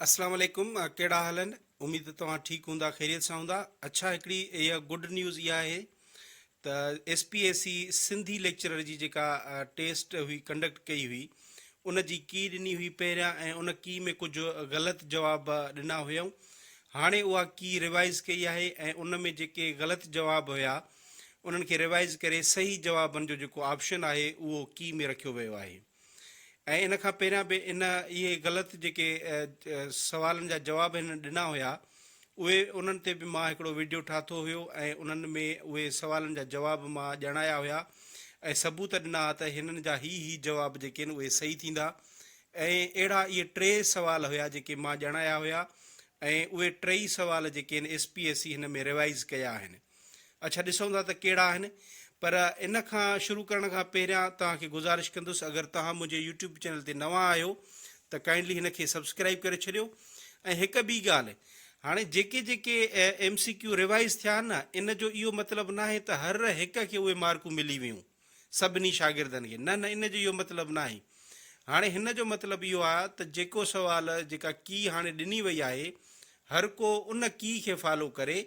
اسلام عليڪم ڪهڙا حال آهن اميد توهان ٺيڪ هوندا خيريت سان هوندا اڇا هڪڙي اها گڊ نيوز اها آهي ته S P A C Sindhi lecturer جي جيڪا ٽيسٽ هئي ڪنڊڪٽ ڪئي هئي ان جي ڪي ڏني هئي پهريان ۽ ان ڪي ۾ ڪجهه غلط جواب ڏنا هيائون هاڻي اها ڪي ريوائز ڪئي آهي ۽ ان ۾ جيڪي غلط جواب هيا انهن کي ريوائز ڪري صحيح جوابن جو جيڪو آپشن آهي اهو ڪي ۾ رکيو ويو آهي ۽ ان کان پهريان به ان اهي غلط جيڪي سوالن جا جواب هن ڏنا هيا اهي انهن تي به مان هڪڙو ويڊيو ٺاهتو هيو ۽ انهن ۾ اهي سوالن جا جواب مان ڄاڻايا هيا ۽ ثبوت ڏنا ها ته هنن جا هي هي جواب جيڪي آهن اهي صحيح ٿيندا ۽ اهڙا اهي ٽي سوال هيا جيڪي مان ڄاڻايا هيا ۽ اهي ٽئي سوال جيڪي آهن ايس پي ايس سي هن ۾ ريوائيز ڪيا آهن. اڇا ڏسون ٿا ته ڪهڙا آهن پر ان کان شروع ڪرڻ کان پهريان توهان کي گذارش ڪندس اگر توهان منهنجي يوٽيوب چينل تي نوان آهيو ته ڪائنڊلي هن کي سبسڪرائيب ڪري ڇڏيو ۽ هڪ ٻي ڳالهه هاڻي جيڪي جيڪي ايم سي ڪيو ريوائيز ٿيا آهن نه ان جو اهو مطلب ناهي ته هر هڪ کي اهي مارڪون ملي ويون. سڀني شاگردن کي. نه نه ان جو اهو مطلب ناهي. هاڻي هن جو مطلب اهو آ ته جيڪو سوال جيڪا ڪي هاڻي ڏني وئي آهي هر ڪو ان ڪي کي فالو ڪري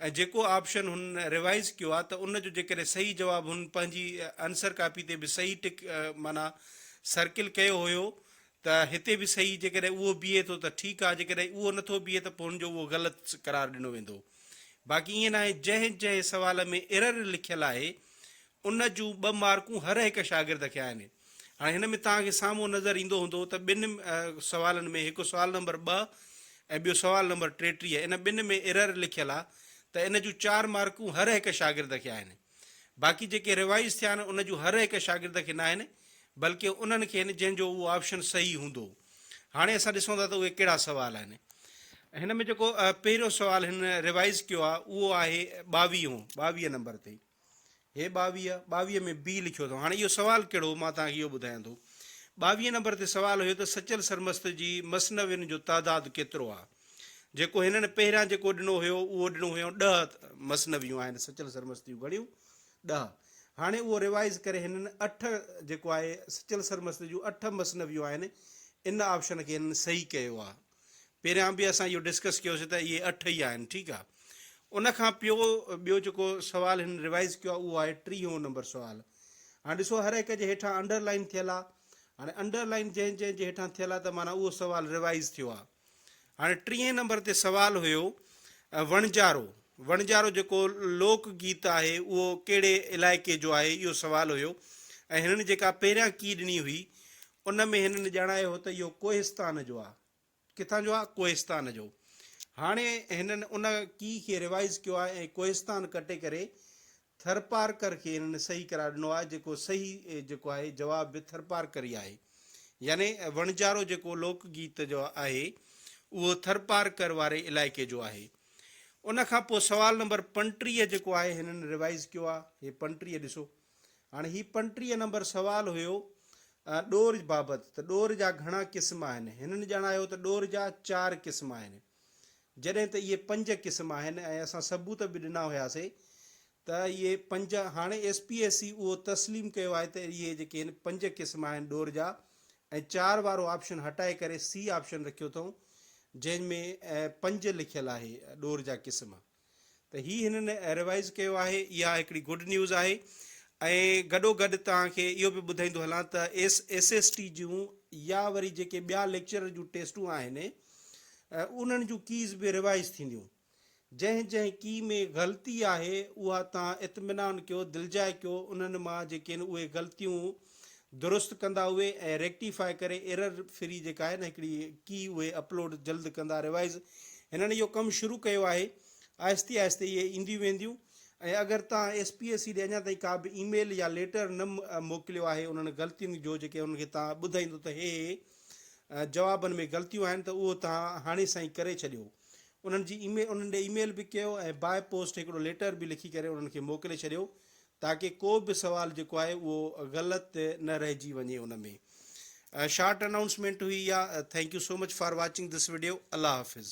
۽ جيڪو آپشن هن ريوائيز ڪيو آ ته ان جو جيڪڏهن صحيح جواب هن پنهنجي انسر ڪاپي تي به صحيح ٽڪ معنيٰ سرڪل ڪيو هيو ته هتي به صحيح جيڪڏهن اهو بيهي ٿو ته ٺيڪ آهي جيڪڏهن اهو نه ٿو بيهي ته پوء هن جو اهو غلط قرار ڏنو ويندو باقي ائين ناهي جنهن جنهن سوال ۾ ايرر لکيل آهي ان جون ٻه مارڪون هر هڪ شاگرد کي آهن هاڻي هن ۾ توهان کي سامهون نظر ايندو هوندو ته ٻن سوالن ۾ هڪ سوال نمبر ٻه ۽ ٻيو سوال نمبر ٽيٽيهه ان ٻن ۾ ايرر لکيل آهي ته ان جون چار مارڪون هر هڪ شاگرد کي آهن. باقي جيڪي ريوائيز ٿيا آهن ان جون هر هڪ شاگرد کي ناهن بلڪه انهن کي آهن جنهن جو اهو آپشن صحيح هوندو. هاڻي اسان ڏسون ٿا ته اهي ڪهڙا سوال آهن. هن ۾ جيڪو پهريون سوال هن ريوائيز ڪيو آهي اهو آهي ٻاويهون، ٻاويهه نمبر تي. هي ٻاويهه، ٻاويهه ۾ بي لکيو اٿئون. هاڻي اهو سوال ڪهڙو هو مان توهان کي اهو ٻڌايان ٿو. ٻاويهه نمبر تي سوال هيو ته سچل سرمست جي مثنوين جو تعداد ڪيترو آهي. جيڪو هنن پهريان جيڪو ڏنو هيو اهو ڏنو هيون ڏهه مثنويون آهن سچل سرمستيون گهڻيون ڏهه هاڻي اهو ريوائز ڪري هنن اٺ جيڪو آهي سچل سرمست جون اٺ مثنويون آهن ان آپشن کي هنن صحيح ڪيو آهي پهريان به اسان اهو ڊسڪس ڪيوسي ته اهي اٺ ئي آهن ٺيڪ آهي ان کان پيو ٻيو جيڪو سوال هن ريوائز ڪيو اهو آهي ٽيهون نمبر سوال هاڻي ڏسو هر هڪ جي هيٺان انڊر لائن ٿيل آهي هاڻي انڊر لائن جنهن جنهن جي هيٺان ٿيل آهي ته معنی اهو سوال ريوائز ٿيو آهي هاڻي ٽيهين نمبر تي سوال هيو وڻجارو وڻجارو جيڪو لوڪ گيت آهي اهو ڪهڙي علائقي جو آهي اهو سوال هيو ۽ هنن جيڪا پهريان ڪي ڏني هئي ان ۾ هنن ڄاڻايو هو ته اهو ڪوهستان جو آهي ڪٿان جو آهي ڪوهستان جو هاڻي هنن ان ڪي کي ريوائز ڪيو آهي ۽ ڪوهستان ڪٽي ڪري ٿرپارڪر کي هنن صحيح قرار ڏنو آهي جيڪو صحيح جيڪو آهي جواب به ٿرپارڪر ئي آهي يعني وڻجارو جيڪو لوڪ گيت جو آهي اهو ٿرپارڪر واري علائقي جو آهي ان کان پوء سوال نمبر پنٽيهه جيڪو آهي هنن ريوائز ڪيو آهي هي پنٽيهه ڏسو هاڻي هي پنٽيهه نمبر سوال هيو ڏور بابت ته ڏور جا گهڻا قسم آهن هنن ڄاڻايو ته ڏور جا چار قسم آهن جڏهن ته اهي پنج قسم آهن ۽ اسان ثبوت به ڏنا هياسي ته اهي پنج هاڻي ايس پي ايس سي اهو تسليم ڪيو آهي ته اهي جيڪي هن پنج قسم آهن ڏور جا ۽ چار وارو آپشن هٽائي ڪري سي آپشن رکيو اٿئون جنهن ۾ پنج لکيل آهي ڏور جا قسم. ته هي هنن ريوائيز ڪيو آهي اها هڪڙي گڊ نيوز آهي ۽ گڏو گڏ توهان کي اهو به ٻڌائيندو هلان ته ايس ايس ايس ٽي جون يا وري جيڪي ٻيا ليڪچرر جون ٽيسٽون آهن انهن جون ڪيز به ريوائيز ٿينديون جنهن جنهن ڪي ۾ غلطي آهي اها توهان اطمينان ڪيو دلجاء ڪيو انهن مان جيڪي اهي غلطيون درست ڪندا اهي ۽ ريڪٽيفاء ڪري ايرر فري جيڪا آهي نه هڪڙي ڪي اهي اپلوڊ جلد ڪندا ريوائز هنن اهو ڪم شروع ڪيو آهي آهستي آهستي اهي اينديون وينديون ۽ اگر توهان ايس پي ايس سي ڏي اڃا تائين ڪا به اي ميل يا ليٽر نه موڪليو آهي انهن غلطين جو جيڪي انهن کي توهان ٻڌائيندو ته هي هي جوابن ۾ غلطيون آهن ته اهو توهان هاڻي سائين ڪري ڇڏيو انهن جي اي ميل انهن ڏي اي ميل به ڪيو ۽ باء پوسٽ هڪڙو ليٽر به لکي ڪري انهن کي موڪلي ڇڏيو تاڪه ڪو به سوال جيڪو آهي اهو غلط نه رهجي وڃي ان ۾ شارٽ انائونسمينٽ هئي اها thank you so much for watching this video الله حافظ.